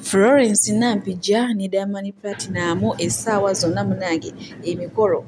Florence Nampijja ne Diamond Platnumz essaawa zonna munange emikolo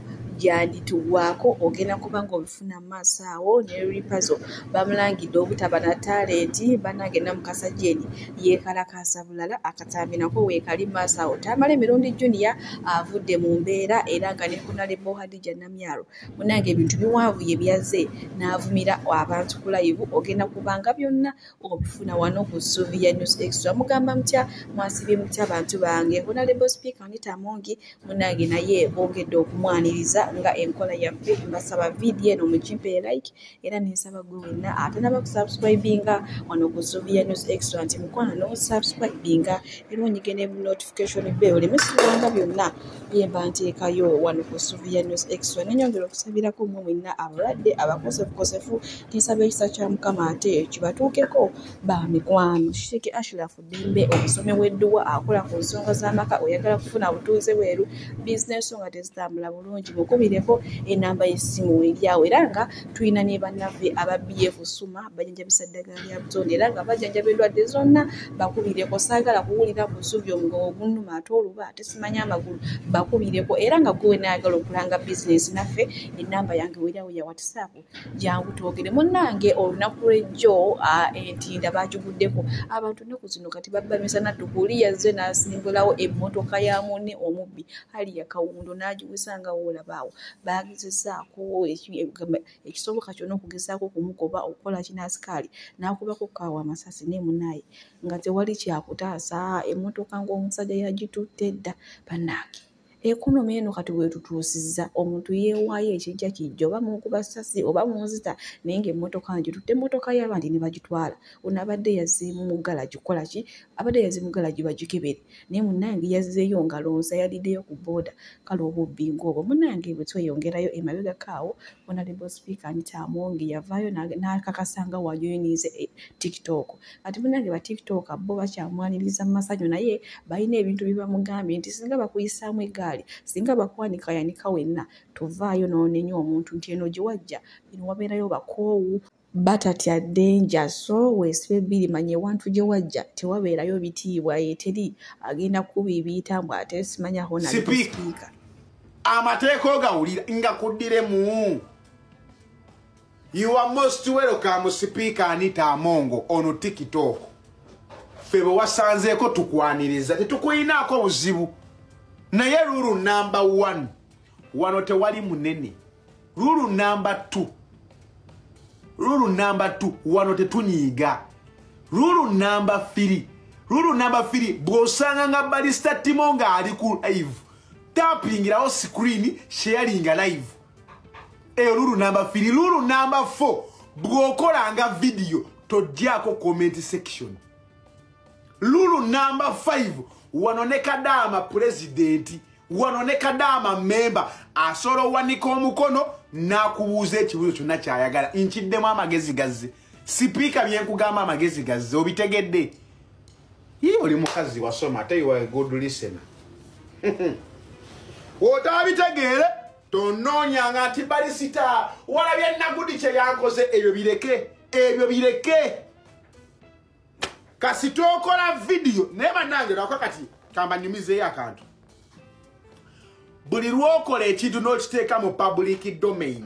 gyandituggwaako ogenda kuba ng'obifuna mu maaso awo ne Lipazo bamulangidde obutaba na talenti bannange Namukasa Jane yeekalakaasa bulala akatambi nako weekali mu maaso awo Tamale Mirundi Junior avudde mu mbeera era nga ne Honorable Hadija Namyalo munange ebintu biwanvuye byazze n'avumira abantu ku layivu ogenda kubanga byonna okufuna wano ku suubi ya news extra mugamba mutya mwasibye mutya bantu bange honalebo speaker anita mungi munange naye bongedde okumwaniriza nga enkola yaffe mbasaba vidiyo eno mukimpe ye like era nensaba gwe wenna atanaba kusubscribinga wano ku suubi ya news extra nti mukwano nosubscribinga era onyige ne notification be oleme siwanga byonna byemba nteekayo wano ku suubi ya news extra nenyongera okusabirako mwe mwenna abalwadde abakosefukosefu Tusaba ekisa kya Mukama ate kibatuukeko ba mikwano. Sheikh Ashraf Ddembe omusomi w'edduwa akola ku nsonga z'amaka oyagala kufuna butuuze bweru bizinensi nga tezitambula bulungi mukubireko enamba y'essimu eryawo era nga tulina ne bannaffe aba BF Suma bajanjabisa ddagala lya butonde era nga bajanjaba endwadde zonna bakubireko saagala kuwulira buzubi omugogo gunnuma ate oluba ate simanya amagulu bakubireko era nga gwe wenayagala okulanga bizinensi naffe enamba yange weryawo ya whatsapp jangu twogere munnange olunaku lwejjo entinda bagiguddeko abantu nnaku zino kati babba misana tukuli yazze n'asimbulawo emmotoka ya munne omubbi ali yakawundo n'agiwisa nga woolabaawo baagezesaako ekisoboka kyona okugezaako okumugoba okukola kinasikaali n'akubako kaawa amasasi naye munaaye nga tewali kyakutaasa emmotoka ng'omusajja yagitutte dda bannaange ekonomi eno kati wetutuusizza omuntu yeewaayo ekijja kijja oba munkuba sasi oba munzita naye nga emmotoka ngitutte emmotoka y'abandi ne bagitwala ono abadde yaziimu mu galagi kukola ki abadde yaziimu galagi bagikebere naye munange yazzeeyo ngalonsa yaliddeyo ku booda kale obubbi ngaobwo munange bwe tweyongerayo emabegako awo onalebo sipiika nitaamonge yavaayo n'akakasa nga wajoyiniize eh, tiktok ati munange ba tiktok bo bakyamwaniriza mu masanyu naye balina ebintu byebamugambye nti singa bakuyisaamu egaali singa bakwanika yanika wenna tovaayo noonenya omuntu nti eno gyewajja eno wabeerayo bakoowu batatya denja so wesibe biri manya ewantu gye wajja tewabeerayo bitiibwa eteri agenda kukuba ebiyita mbu ate simanya honasipiika amateeka ogawulira nga kuddiremu You are most welcome sipiika Anita Amongo ono TikTok. Ffe bwe wasanzeeko tukwaniriza tetukulinaako buzibu naye lulu namba 1 wano tewali munene lulu namba 2 lulu namba 2 wano tetunyiiga lulu namba 3 lulu namba 3 bw'osanga nga balista timo ng'ali ku live tapingirawo sikuriini sheyalinga live eyo lulu namba firi lulu namba fo bw'okolanga vidiyo togyako comment section lulu namba five wano ne kadaama pulezidenti wano ne kadaama memba asobola owanika omukono n'akubuuza ekibuuzo kyonna kyayagala nkiddemu amagezi gazze sipiika byenkugamba amagezi gazze obitegedde Hii oli mukazi wasoma ate you are a good listener. Otabitegeere tonoonya nga nti bali sita walabye nagudi kye yankoze ebyo bireke ebyo bireke kasi tokola vidiyo naye banange lwako kati kambanyumizeeyo akantu buli lwokola ekintu n'okiteeka mu public domain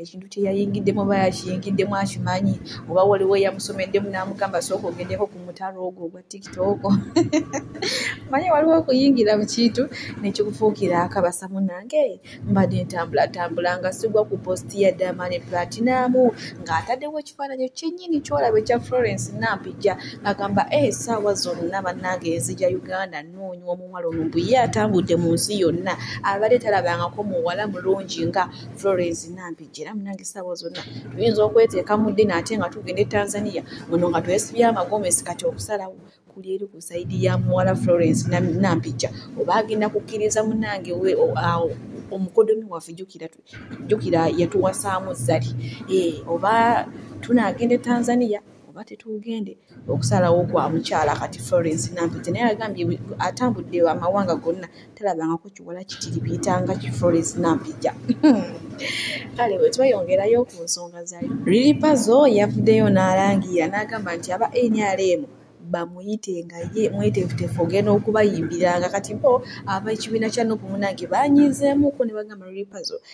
ekintu kyeyayingiddemu oba yakiyingiddemu akimanyi oba waliwo eyamusomeddemu namugamba sooka ogendeko ku mutalo ogwo ogwa tikitoko manye waliwo okuyingira mu kintu nekikufuukira akabasa munange mbadde ntambulatambula nga sigwa ku posti ya damani platinamu ng'ataddewo ekifaananyi kyenyini kyolaba ekya florence nampijja agamba e eh, saawa zonna bannange enzija uganda noonywa omuwala ono mbuye atambudde mu nsi yonna abadde talabangako muwala mulungi nga florence nampijja era munange saawa zonna tuyinza okweteeka mu ddina ate nga tugenda e tanzania muno nga twesibya amagomesi kati okusalawo kuli eri ku saidi ya muwala florence nampijja oba agenda kukkiriza munange awo omukodomi waffe jukira yatuwasaamu zali eh, oba tunagenda e tanzania oba tetugende okusalawo kwa mukyala kati florence nampiti naye agambye atambudde amawanga gonna talabangako kiwala kitiribiyitanga ki florence nampija kale bwe tweyongerayo ku nsonga zayo lilipazo yavuddeyo n'alangira n'agamba nti aba nrm bamuyite nga ye mwetefutefu ogenda okubayimbiranga kati bo ab'ekibiina kya nup munange banyizeemuko ne bagamba lilipazo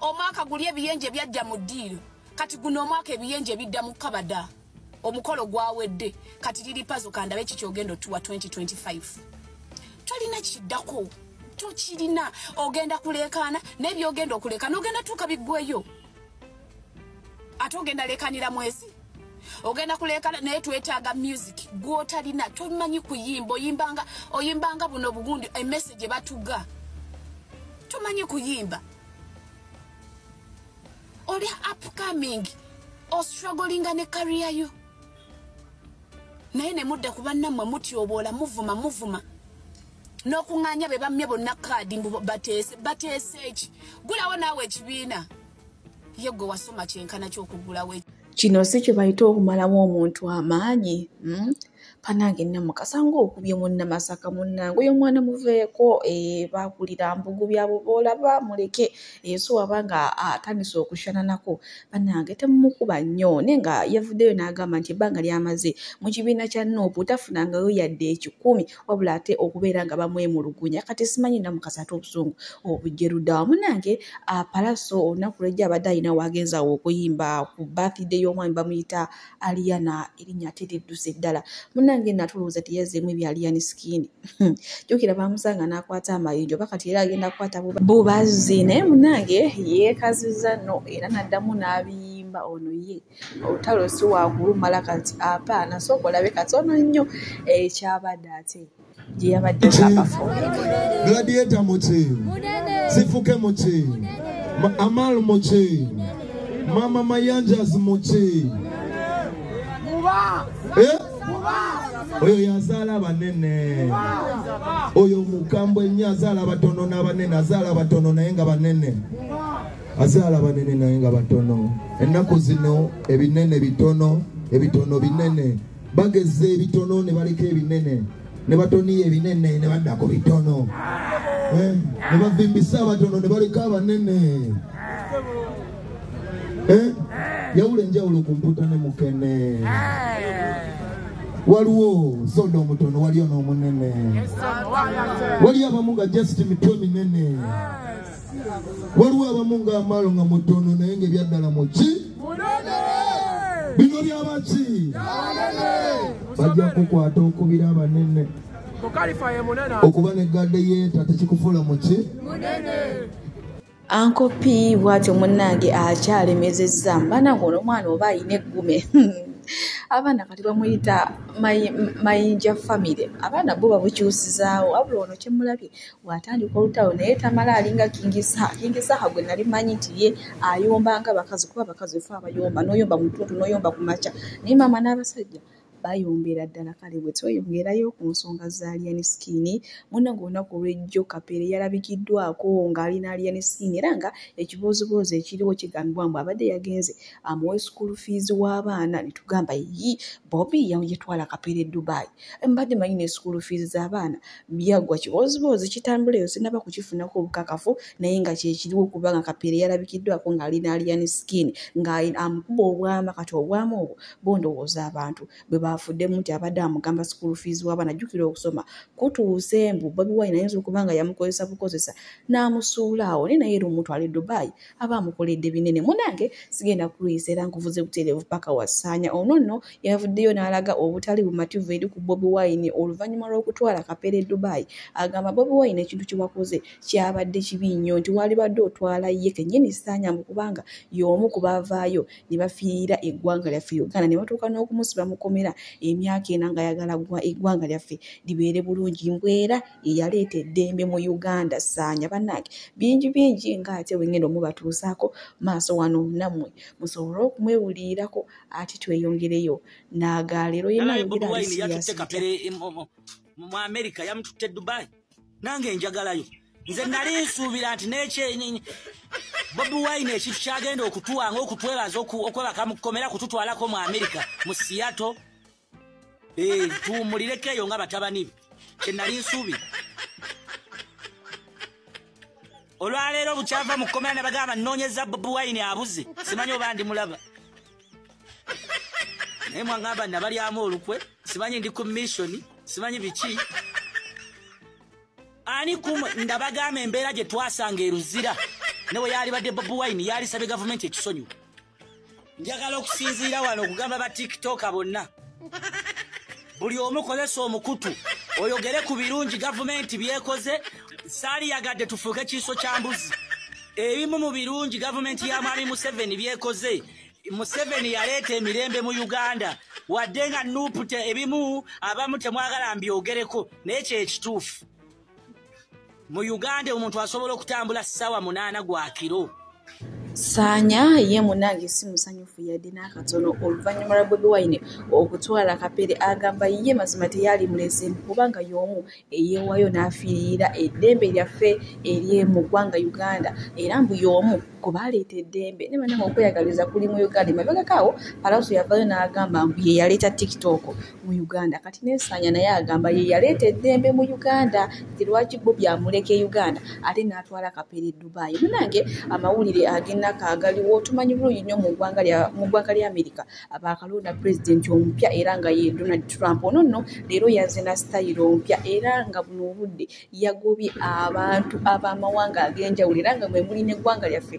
omwaka guli ebiyenje byajja mu ddiiro kati guno omwaka ebiyenje bidda mu kabada omukolo gwawedde kati liri pazo kandabe kikyogenda otuwa 2025 tolina kiddako tokirina ogenda kuleekaana naye byogenda okuleekaana ogenda tuuka biggweyo ate ogenda lekanira mwezi ogenda kulekana naye twetaaga music gwotalina tomanyi kuyimba oyimbanga oyimbanga buno obugundi emessage batuga tomanyi kuyimba oli upcoming ostrugglinga ne kariya yo naye ne mudda ku bannammwe mutyoboola muvuma muvuma n'okuŋŋaanya be bammye bonna kaadi mbu bateese bateese eki gulawo naawe ekibiina ye gwe wasoma kyenkana kyokugulawo kino si kye bayita okumalamu omuntu amaanyi hmm? panange namukasa ngaokubye munnamasaka munnange oyo omwana muveeko eh, bakulira mbugu byabo boolaba muleke ensi eh, waba nga atandise okushananako banange temumukuba nnyo naye nga yavuddeyo n'agamba nti ebbanga lyamaze mu kibiina kya nuupu tafunangayo yadde ekikumi wabula ate okubeera nga bamwemulugunya kati simanyi namukasa ate obusungu obujjerudawa munange apalaso olunaku lwejja abadde alina wagenza awo okuyimba ku bathide y'omwami bamuyita aliyana erinnya ate lidduse ddala munange natulowooza teyazeemu ebya aliyani sikini hmm. jukira bamusanga n'akwata amayinjo oba kati era agenda kukwata bubazzi naye munange yeekaziza no era naddamu n'abiyi kulimba ono ye olutalo si wakulumala kati apaana sooka olabe katono nnyo ekyabadde eh, ate gye yabadde abafugladieta muki sifuke muki amal muki mama mayanjas muki eh? oyo yazaala banene oyo mukambwe nnyo azaala batono n'abanene azaala batono naye nga banene azaala banene naye nga batono ennaku zino ebinene bitono ebitono binene bageza ebitono ne baleka ebinene ne batoniya ebinene ne baddako bitono eh, ne bavimbisa abatono ne baleka abanene eh, yawula enjawulo ku mputa ne mukene waliwo soda omutono waliyo n'omunene waliyo abamu nga just mitwe minene waliwo abamu nga amaalo nga mutono naye nga ebyaddala muki bino byabaki bajja kukwata okubira abanene okuba ne gadde yeeta tekikufuula muki ankopi bwatyo munnange akyalemezezza mbanange ono omwana oba ayina eggume abaana kati bamuyita mayinja famire abaana bo babukyusizaawo wabula ono kyemulabye bw'atandika olutalo naye tamala alinga kingisaha kingisaha gwe nali manyi nti ye ayomba nga bakazi kuba abakazi efe abayomba n'oyomba mu ttuntu n'oyomba ku makya naye maama n'abasajja bayombera ddala kale bwe tweyongerayo ku nsonga za alien skin muna ngaolunaku olwejjo kapeere yalabikiddwako ng'alina alien skin era nga ekibooziboozi ekiriwo kigambibwa mbu abadde yagenze amuwa ah, school fees w'abaana netugamba yi bobi yetwala kapeere dubai mbadde manyi ne school fees z'abaana byaggwa kibooziboozi kitambula eyo sinaba kukifunako obukakafu naye nga kyekiriwo kubanga kapeere yalabikiddwako ng'ali n'aliyani skin ng'amukuba obwama kati obwama obwo bondowooza abantu bwe baafuddemu nti abadde amugamba school fees waba najjukira okusoma kutuuse mbu bobi wine ayinza okuba nga yamukozesa bukozesa n'amusuula awo naye naye era omutwale dubai aba amukoledde binene munange sigenda kuluyisa era nkuvuze butereevu paka wasaanya ono nno yavuddeyo n'alaga obutali bumativu eri ku bobi wine oluvannyuma lw'okutwala kapere dubai agamba bobi wine ekintu kyewakoze kyabadde kibi nnyo nti walibadde otwala ye kennyini saanya mbu kubanga y'omu ku baavaayo ne bafiirira eggwanga lyaffe uganda ne batuuka n'okumusiba mukomera emyaka ena ng'ayagala eggwanga lyaffe libeere bulungi mbwera yeyaleeta eddembe mu uganda saanya banange bingi bingi nga ate wengenda omubatuusaako maaso wano nammwe musobole okumwewuliirako ati tweyongereyo naagaleero mu amerika yamututte dubai nange njagalayo nze nali nsuubira nti nekyenyenyi bobi wine ekintu kyagenda okutuwanga okutwebaza okwebaka mu kkomera kututwalako mu amerika mu siyato Eh, tuwummulireko eyo nga batabani be kyenali nsuubira olwaleero bukyava mu kkomera ne bagamba nnoonyeza bobi wayini abuze simanyi oba ndi mulaba naye mwagamba nabalyamu olukwe simanyi ndi ku missioni simanyi biki ani kum ndabagamba embeera gye twasanga eruzira ne bwe yaalibadde bobi wayini yaalisabye gavumenti ekisonyiwa njagala okusinziira wano okugamba ba tiktoka bonna buli omu kozesa omukutu oyogere ku birungi gavumenti byekoze saaliyagadde tufuuke kiiso kya mbuzi ebimu mu birungi gavumenti ya mwami museveni byekoze museveni yaleeta emirembe mu uganda wadde nga nupu ebimu abamu temwagala mbyogereko naye kyekituufu mu uganda omuntu asobola okutambula sawa munaana gwa kiro saanya ye munange si musanyufu yadde n'akatono oluvannyuma lwa bobi wine okutwala kapere agamba ye mazima teyaali mulese kubanga y'omu eyeewayo n'afiirira eddembe lyaffe eryemu ggwanga uganda era mbu y'omu kubaleeta eddembe ne banange okweyagaliza kuli mu uganda emabegakaawo palauso yavayo n'agamba mbu ye yaleeta tiktok mu uganda kati nesaanya naye agamba ye yaleeta eddembe mu uganda nti lwaki bo byamuleka e uganda ate n'atwala kapere dubai munange amawulire agenaka agaliwo tumanyi bulungi nnyo mu ggwanga lya amerika abaakalonda pulezidenti omupya era nga ye donald trump ono nno leero yaze na sitayiro omupya era nga buno obudde yagobye abantu ab'amawanga ag'enjawulo era nga mwe muli n'eggwanga lyaffe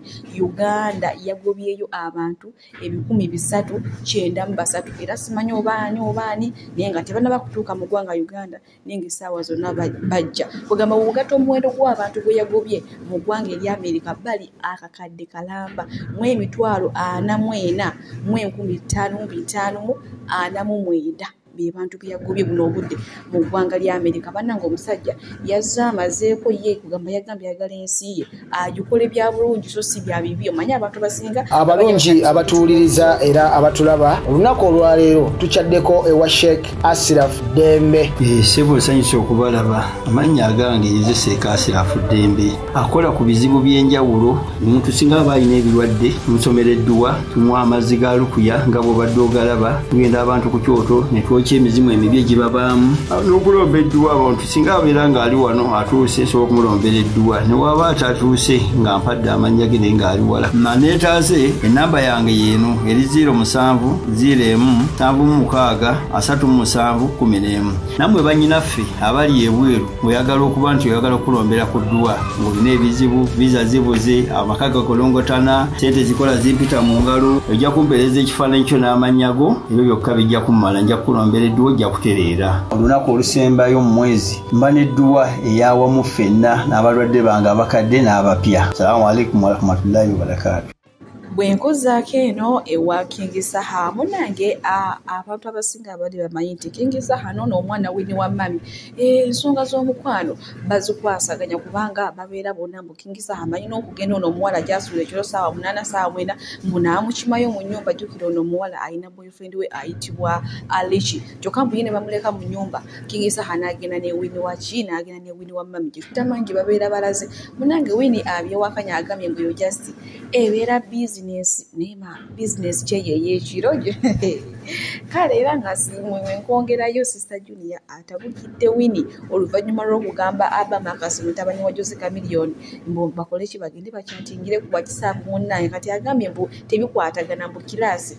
uganda yagobyeyo abantu ebikumi bisatu kyenda mu basatu era simanyi obaani obaani naye nga tebanaba kutuuka mu ggwanga uganda naye nga essaawa zonna bajja kugamba wogata omuwendo gw'abantu gwe yagobye mu ggwanga erya amerika bali akakadde kalamba mu emitwalo ana mu ena mu enkumi ttaano mu bitaano mu ana mu mwenda bebantu beyagobye buno obudde mu ggwanga lya amerika bananga omusajja yazze amazeeko ye kugamba yagambye ayagala ensi ye agikole bya bulungi so si bya bibi omanyi abantu basinga abalungi abatuwuliriza era abatulaba olunaku olwaleero tukyaddeko ewa sheikh asiraf dembe eh, sebo nsanyusa okubalaba amannya agange nze seeka asiraf dembe akola ku bizibu by'enjawulo omuntu singa aba alina ebirwadde musomera edduwa tumuwa amazzi ga lukuya nga bwobadde ogalaba tugenda abantu ku kyoto ne twokya emizimu emibi egibabaamu ah, n'okulomba edduwa abantu singa abeera ng'ali wano atuuse esobola okumulombera edduwa ne waaba atatuuse nga mpadde amannya ge naye ng'ali wala maneetaase ennamba yange yeeno eri 0 musanvu 0 emu nsanvu mu mukaaga asatu mu musanvu kumi n'emu nammwe bannyinaffe abali ebweru oyagala okuba nti oyagala okukulombera ku dduwa ng'olina ebizibu viza zibuze amaka gakolongotana sente zikola zimpita mu ngalo ojja kumpeereza ekifaananyi kyo n'amannya go ebyo byokka bijja kumumala nja kukulombera edduwa ojja kutereera olunaku olusembayo mu mwezi mba n'edduwa eyawamu ffenna n'abalwadde bange abakadde n'abapya salaamu aleikum warahmatullahi wabarakaatu bwe nkuzaako eno ewa kingi saha munange abantu abasinga abali bamanyi nti kingi saha noono omwana wini wa mami ensonga z'omukwano bazikwasaganya kubanga babeera bona mbu kingi saha amanyi n'okugenda ono omuwala gyasuula ekiro saawa munaana saawa mwena mbu naamukimayo mu nyumba jjukira ono omuwala alina boyfriend we ayitibwa alici kyokka mbu ye ne bamuleka mu nyumba king isaha n'agenda ne wini wa ki n'agenda ne wini wa mami gye tutamanyi gye babeera balaze munange wini abyewakanya agambye mbu yo just ebeera bizinesi naye ma bizinesi kyeyeyo ekiro gyo kale era nga simwemwe nkwongerayo sister junia atabukidde wini oluvannyuma lw'okugamba abama akasi mutabani wa jose camiliyoni mbu bakole ki bagende bakyatingire kuba kisaaku munnaye kati agambye mbu tebikwatagana mbu kiraasi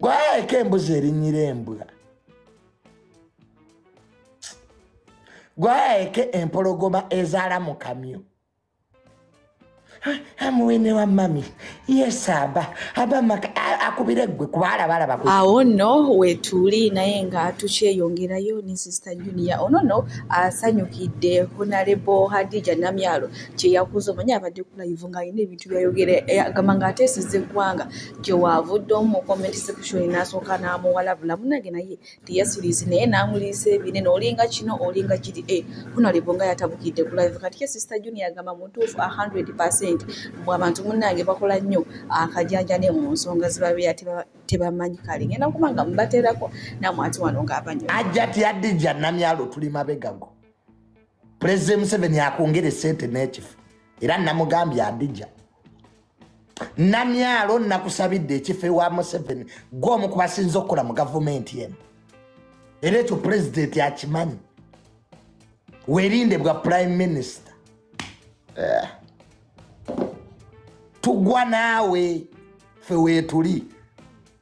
gwaeko embuzi erinyira embwa gwaeke empologoma ezaala mu kamyu amuwene wa mami yesaba abamaka akubire gwe kubalabalaba awo no wetuli naye nga tukyeyongerayo ne sista junior ono no asanyukidde honarebo hadija namyalo kyeyakuza omanya abadde kulayivu nga alina ebintu ebintu byayogera eh, agamba nga ateeseza eggwanga gyewaavudde omu mu comment section n'asooka n'amuwalabula munange naye teyasuliizi naye n'amuliisa ebinene olinga kino olinga kiri e eh, kunalebo nga yatabukidde ku live kati ye sister junior agamba muntuufu a 100 percent mbu abantu munange bakola nnyo akajanja ne mu nsonga zibabeera tebamanyi kale ngenda kuba nga mubateerako namwati wano ng'abanyo ajja tiyadijja namyalo tuli mabegago pulezidenti museveni akwongere sente n'ekifo era namugambye adija namyalo nakusabidde ekifo ewa museveni gwe omu ku basinza okukola mu gavumenti emu era ekyo pulezidenti akimanyi werinde bwa prime minister eh. tugwa naawe fe wetuli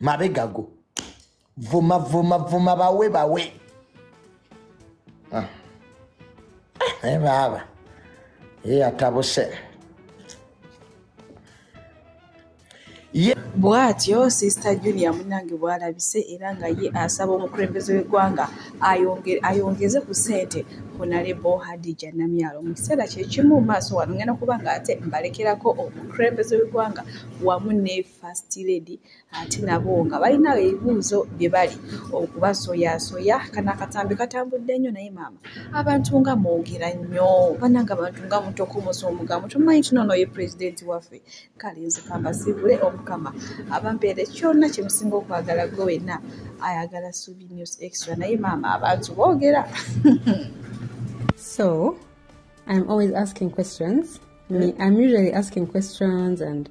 mabegago vuma vuma vuma bawe bawe ah. eh, naye baaba ye atabuse bwatyo sister junior munange bwalabise era nga ye asaba omukulembeze w'eggwanga ayongeze ku ssente honalebo hadija namyalo mu kiseera kyekimu maaso wano ngenda kuba nga ate mbalekerako omukulembeze w'eggwanga wamu ne first lady ate nabo nga balina ebibuuzo bye bali okubasoyasoya kana akatambi katambudde nnyo naye maama abantu nga mwogera nnyo bananga abantu nga mutokomosa omugambo tumanyi kino ono ye pulezidenti waffe kale nze kambasibule omukama abampeere kyonna kye musinga okwagala gwe wenna ayagala subi news extra naye maama abantu boogera so i'm always asking questions mm. i'm usually asking questions and